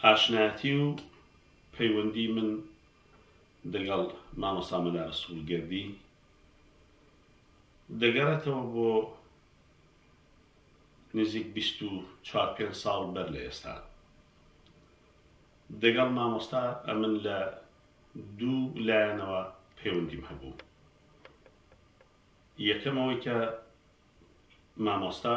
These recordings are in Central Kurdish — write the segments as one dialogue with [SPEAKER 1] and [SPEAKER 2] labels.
[SPEAKER 1] ئاشنایەتی و پەیوەندی من دەگەڵ مامۆستا مەلا رەسوڵ گەردی دەگەڕێتەوە بۆ نزیک بیست و چوار پێنج ساڵ بەر لە ئێستا. دەگەڵ مامۆستا ئەمن لە دوو لایەنەوە پەیوەندیم هەبوو. یەکەم ئەوەی کە مامۆستا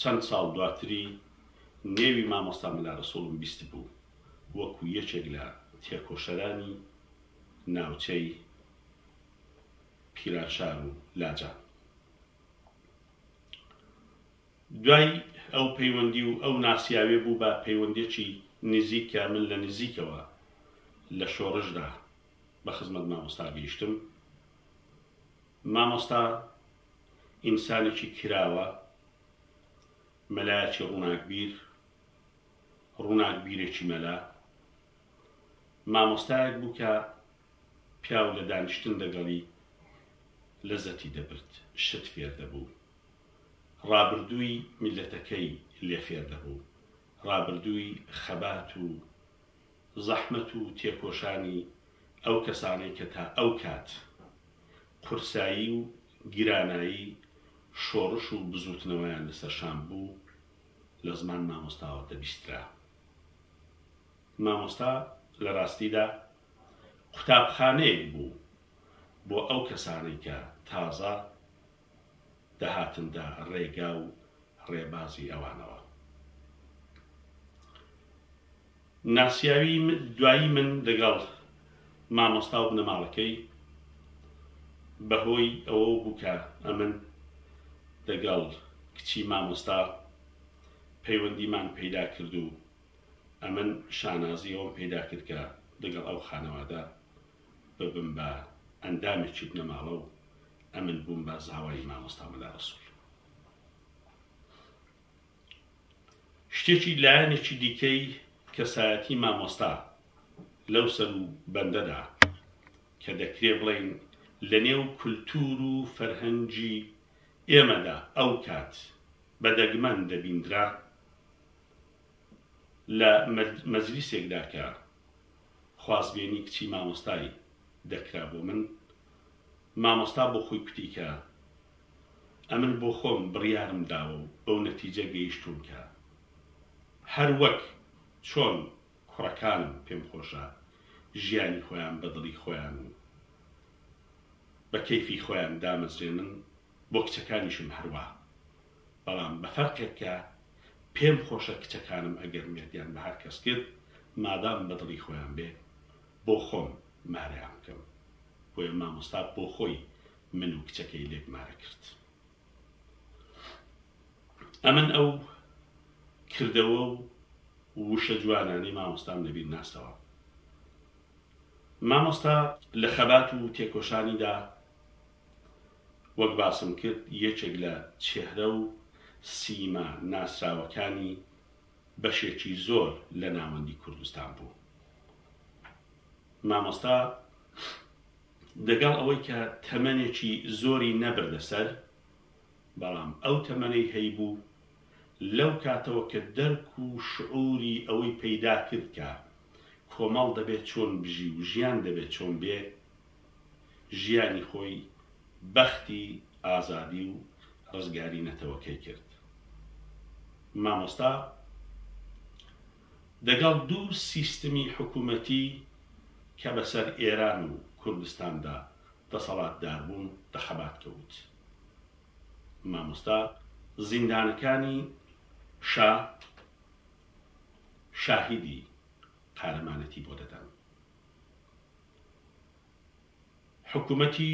[SPEAKER 1] چەند ساڵ دواتری نێوی مامۆستا مەلا رەسوڵم بیستبوو وەکو یەکێک لە تێکۆشەرانی ناوچەی پیرانشار و لاجان. دوای ئەو پەیوەندی و ئەو ناسیاوێ بوو بە پەیوەندێکی نزیک کە من لە نزیکەوە لە شۆڕشدا بە خزمەت مامۆستا گەیشتم. مامۆستا. ئینسانێکی کراوە، مەلایەکی ڕووناکبیر، ڕووناکبیرێکی مەلا. مامۆستایەک بوو کە پیاو لە دانیشتن لەگەڵی لەزەتی دەبرد، شت فێر دەبوو، ڕابردووی میللەتەکەی لێ فێر دەبوو، ڕابردووی خەبات و زەحمەت و تێکۆشانی ئەو کەسانەی کە تا ئەو کات قورسایی و گرانایی شۆڕش و بزووتنەوەیان لە سەرشان بوو لە زمان مامۆستاوە دەبیسترا. مامۆستا لە ڕاستیدا قوتابخانەیەک بوو بۆ ئەو کەسانەی کە تازە، دەهاتندا ڕێگا و ڕێبازی ئەوانەوە ناسیاوی دوایی من لەگەڵ مامۆستا و بنەماڵەکەی بەهۆی ئەوە بوو کە ئەمن لەگەڵ کچی مامۆستا پەیوەندیمان پەیدا کرد و ئەمن شانازی ئەوم پەیدا کرد کە لەگەڵ ئەو خانەوادە ببم بە ئەندامێکی بنەماڵە و ئەمن بووم بە زاوای مامۆستا مەلا ڕەسوول. شتێکی لایەنێکی دیکەی کەسایەتی مامۆستا لەو سەر و بەندەدا کە دەکرێ بڵین لە نێو کولتور و فەرهەنگی ئێمەدا ئەو کات بە دەگمەن دەبیندرا لە مەجلیسێکدا کە خوازبێنی کچی مامۆستای دەکرا بۆ من مامۆستا بۆ خۆی کوتی کە ئەمن بۆ خۆم بڕیارم داوە و بەو نەتیجە گەیشتووم کە هەر وەک چۆن کوڕەکانم پێم خۆشە ژیانی خۆیان بە دڵی خۆیان و بە کەیفی خۆیان دامەزرێنن بۆ کچەکانیشم هەروا بەڵام بە فەرقێک کە پێم خۆشە کچەکانم ئەگەر مێردیان بە هەر کەس کرد مادام بە دڵی خۆیان بێ بۆ خۆم مارەیان بکەم بۆیە مامۆستا بۆ خۆی من و کچەکەی لێک مارە کرد ئەمن ئەو کردەوە و وشە جوانانەی مامۆستام لەبیر ناستەوە مامۆستا لە خەبات و تێکۆشانیدا وەک باسم کرد یەکێک لە چێهرە و سیما ناسراوەکانی بەشێکی زۆر لە ناوەندی کوردستان بوو. مامۆستا دەگەڵ ئەوەی کە تەمەنێکی زۆری نەبردە سەر، بەڵام ئەو تەمەنەی هەیبوو، لەو کاتەوە کە دەرک و شعوری ئەوەی پەیدا کرد کە کۆمەڵ دەبێ چۆن بژی و ژیان دەبێ چۆن بێ، ژیانی خۆی بەختی ئازادی و ڕزگاری نەتەوەکەی کرد. مامۆستا دەگەڵ دوو سیستمی حکوومەتی کە بەسەر ئێران و کوردستاندا دەسەڵاتدار بوون بە خەبات کەوت. مامۆستا زیندانەکانی شا شاهیدی قارەمانەتی بۆ دەدەن. حکوومەتی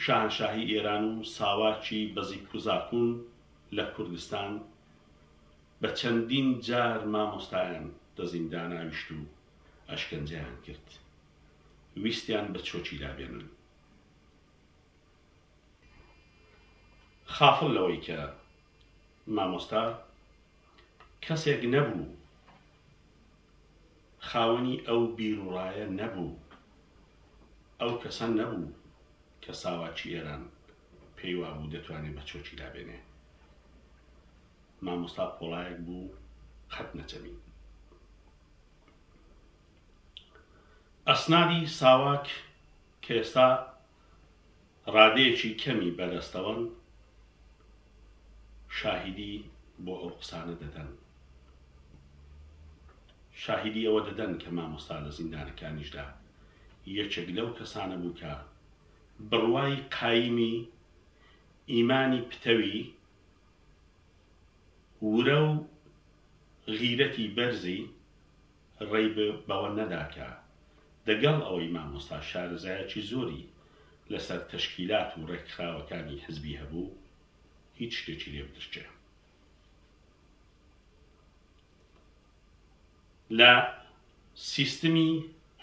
[SPEAKER 1] شاهەنشاهی ئێران و ساواکی بەزیکوزاکوون لە کوردستان بە چەندین جار مامۆستایان دەزین داناویشت و ئەشکەنجەیان کرد ویستیان بە چۆکی لابێنن. خافڵ لەوەی کە مامۆستا کەسێک نەبوو خاوەنی ئەو بیروڕایە نەبوو، ئەو کەسە نەبوو کە ساواکی ئێران پێی وابوو دەتوانێ بە چۆکی دابێنێ. مامۆستا پۆڵایەک بوو قەت نەچەمی. ئەسنادی ساواک کە ئێستا ڕادەیەکی کەمی بەدەستەوەن شاهیدی بۆ ئەو قسانە دەدەن. شاهیدی ئەوە دەدەن کە مامۆستا لە زیندانەکانیشدا یەکێک لەو کەسانە بوو کە بڕوای قایمی ئیمانی پتەوی ورە و غیرەتی بەرزی ڕێی بەوە نەدا کە دەگەڵ ئەوەی مامۆستا شارەزایەکی زۆری لەسەر تەشکیلات و ڕێکخراوەکانی حزبی هەبوو، هیچ شتێکی لێ بدرکێ. لە سیستمی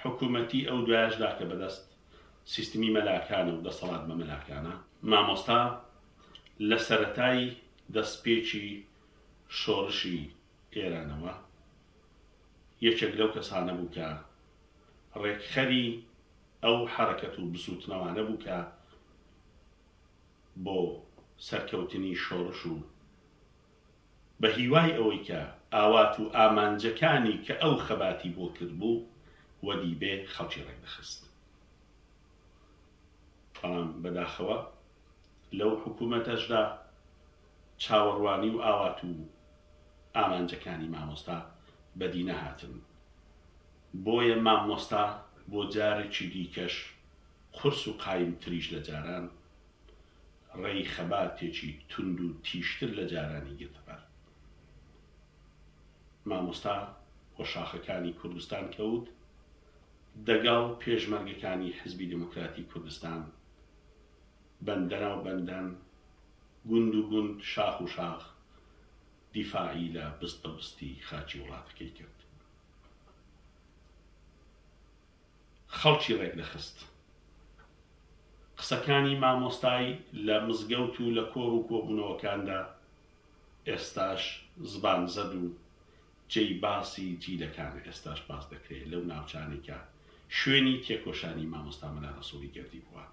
[SPEAKER 1] حکوومەتی ئەو دوایەشدا کە بەدەست سیستمی مەلاکانە و دەسەڵات بە مەلاکانە، مامۆستا لە سەرەتای دەستپێکی شۆڕشی ئێرانەوە، یەکێک لەو کەسانە بوو کە ڕێکخەری ئەو حەرەکەت و بزووتنەوانە بوو کە بۆ سەرکەوتنی شۆڕش و بە هیوای ئەوەی کە ئاوات و ئامانجەکانی کە ئەو خەباتی بۆ کردبوو وەدی بێ خەڵکی ڕێک دەخست. بەڵام بەداخەوە لەو حکوومەتەشدا چاوەڕوانی و ئاوات و ئامانجەکانی مامۆستا بەدی نەهاتن بۆیە ماممۆستا بۆ جارێکی دیکەش قورس و قایم تریش لە جاران ڕێی خەباتێکی توند و تیژتر لە جارانی گرتە بەر مامۆستا بۆ شاخەکانی کوردستان کەوت دەگەڵ پێشمەرگەکانی حزبی دێموکراتی کوردستان بەندەرا و بەندەن، گوند و گوند، شاخ و شاخ دیفاعی لە بستە بستی خاکی وڵاتەکەی کرد. خەڵکی ڕێکدەخست. قسەکانی مامۆستای لە مزگەوت و لە کۆڕ و کۆبوونەوەکاندا ئێستاش زبان زەد و جێی باسی جیلەکانە، ئێستاش باس دەکرێ لەو ناوچانەی کە شوێنی تێکۆشانی مامۆستا مەلا ڕەسووڵی گەردی بووە.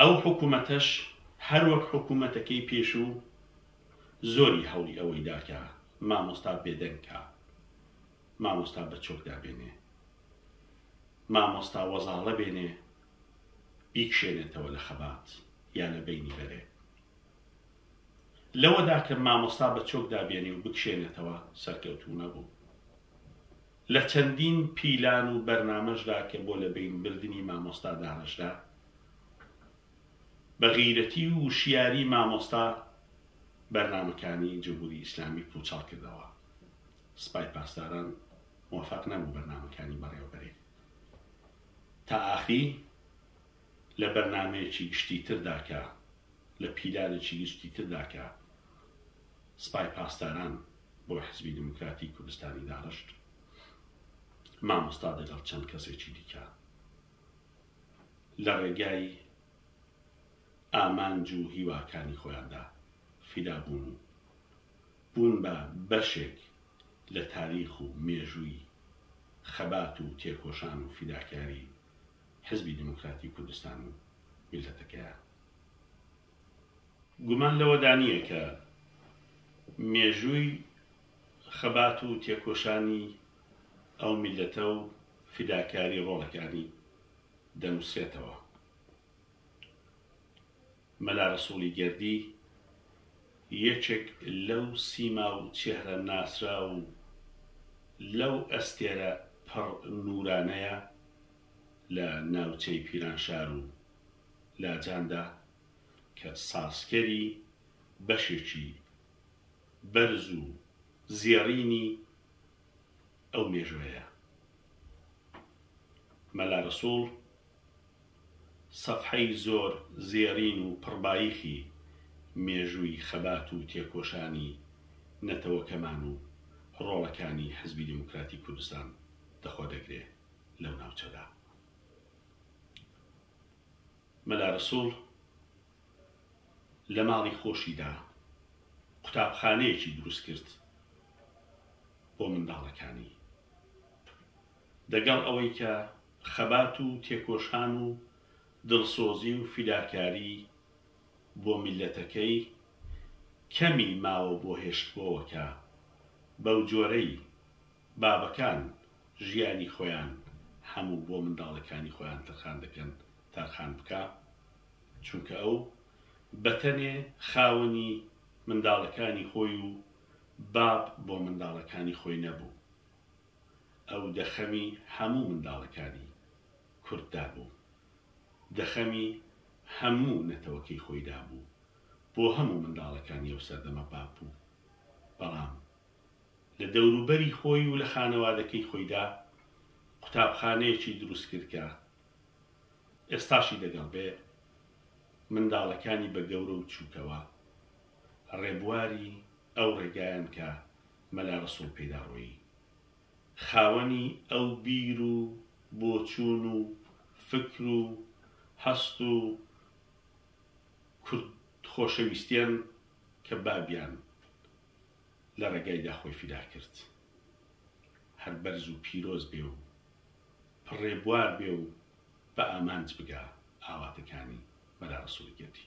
[SPEAKER 1] ئەو حکومەتەش هەر وەک حکومەتەکەی پێشوو زۆری هەوڵی ئەوەی دا کە مامۆستا بێدەنگ کا، مامۆستا بە چۆک دابێنێ، مامۆستا وەزاڵە بێنێ بیکشێنێتەوە لە خەبات یا لە بەینی بەرێ. لەوەدا کە مامۆستا بە چۆک دابێنێ و بکشێنێتەوە سەرکەوتوو نەبوو. لە چەندین پیلان و بەرنامەشدا کە بۆ لە بەین بردنی مامۆستا دانەشدا، بە غیرەتی و وشیاری مامۆستا بەرنامەکانی جمهوری ئیسلامی پوچەڵ کردەوە. سپای پاسداران موفەق نەبوو بەرنامەکانی بەڕێوەبەرێت. تا ئاخری لە بەرنامەیەکی گشتی تردا کە لە پیلانێکی گشتی تردا کە. سپای پاسداران بۆ حزبی دێموکراتی کوردستانی داڕشت، مامۆستا دەگەڵ چەند کەسێکی دیکە لە ڕێگای ئامانج و هیواکانی خۆیاندا فیدا بوون و بوون بە بەشێک لە تاریخ و مێژووی خەبات و تێکۆشان و فیداکاری حزبی دێموکراتی کوردستان و میللەتەکەیان. گومان لەوەدا نییە کە مێژووی خەبات و تێکۆشانی ئەو میللەتە و فیداکاری ڕۆڵەکانی دەنووسرێتەوە. مەلا ڕەسووڵی گەردی یەکێک لەو سیما و چێهرە ناسراو و لەو ئەستێرە پڕ نوورانەیە لە ناوچەی پیرانشار و لاجاندا کە سازکەری بەشێکی بەرز و زێڕینی ئەو مێژوەیە مەلا رەسوڵ سەفحەی زۆر زێڕین و پڕباییخی مێژووی خەبات و تێکۆشانی نەتەوەکەمان و رۆڵەکانی حزبی دێموکراتی کوردستان دەخۆدەگرێ لەو ناوچەدا. مەلا رەسوڵ لە ماڵی خۆشیدا قوتابخانەیەکی دروستکرد بۆ منداڵەکانی، دەگەڵ ئەوەی کە خەبات و تێکۆشان و دڵسۆزی و فیداکاری بۆ میللەتەکەی کەمی ماوە بۆ هێشتبۆوەکە بەو جۆرەی بابەکان ژیانی خۆیان هەموو بۆ منداڵەکانی خۆیان تەرخان دەکەن تەرخان بکا چونکە ئەو بەتەنێ خاوەنی منداڵەکانی خۆی و باب بۆ منداڵەکانی خۆی نەبوو ئەو دەخەمی هەموو منداڵەکانی کورد دابوو دەخەمی هەموو نەتەوەکەی خۆی دابوو بۆ هەموو منداڵەکانی ئەو سەردەمە باب بوو بەڵام لە دەوروبەری خۆی و لە خانەوادەکەی خۆیدا قوتابخانەیەکی دروست کرد کە ئێستاشی دەگەڵ بێ منداڵەکانی بە گەورە و چووکەوە ڕێبواری ئەو ڕێگایەن کە مەلا ڕەسوڵ پێیداڕۆیی خاوەنی ئەو بیر و بۆچوون و فکر و هەست و کورد خۆشەویستیەن کە بابیان لە ڕێگایدا خۆی فیدا کرد. هەر بەرز و پیرۆز بێ و پڕ ڕێبوار بێ و بە ئامانج بگا ئاواتەکانی بەرارەسوڵیەتی.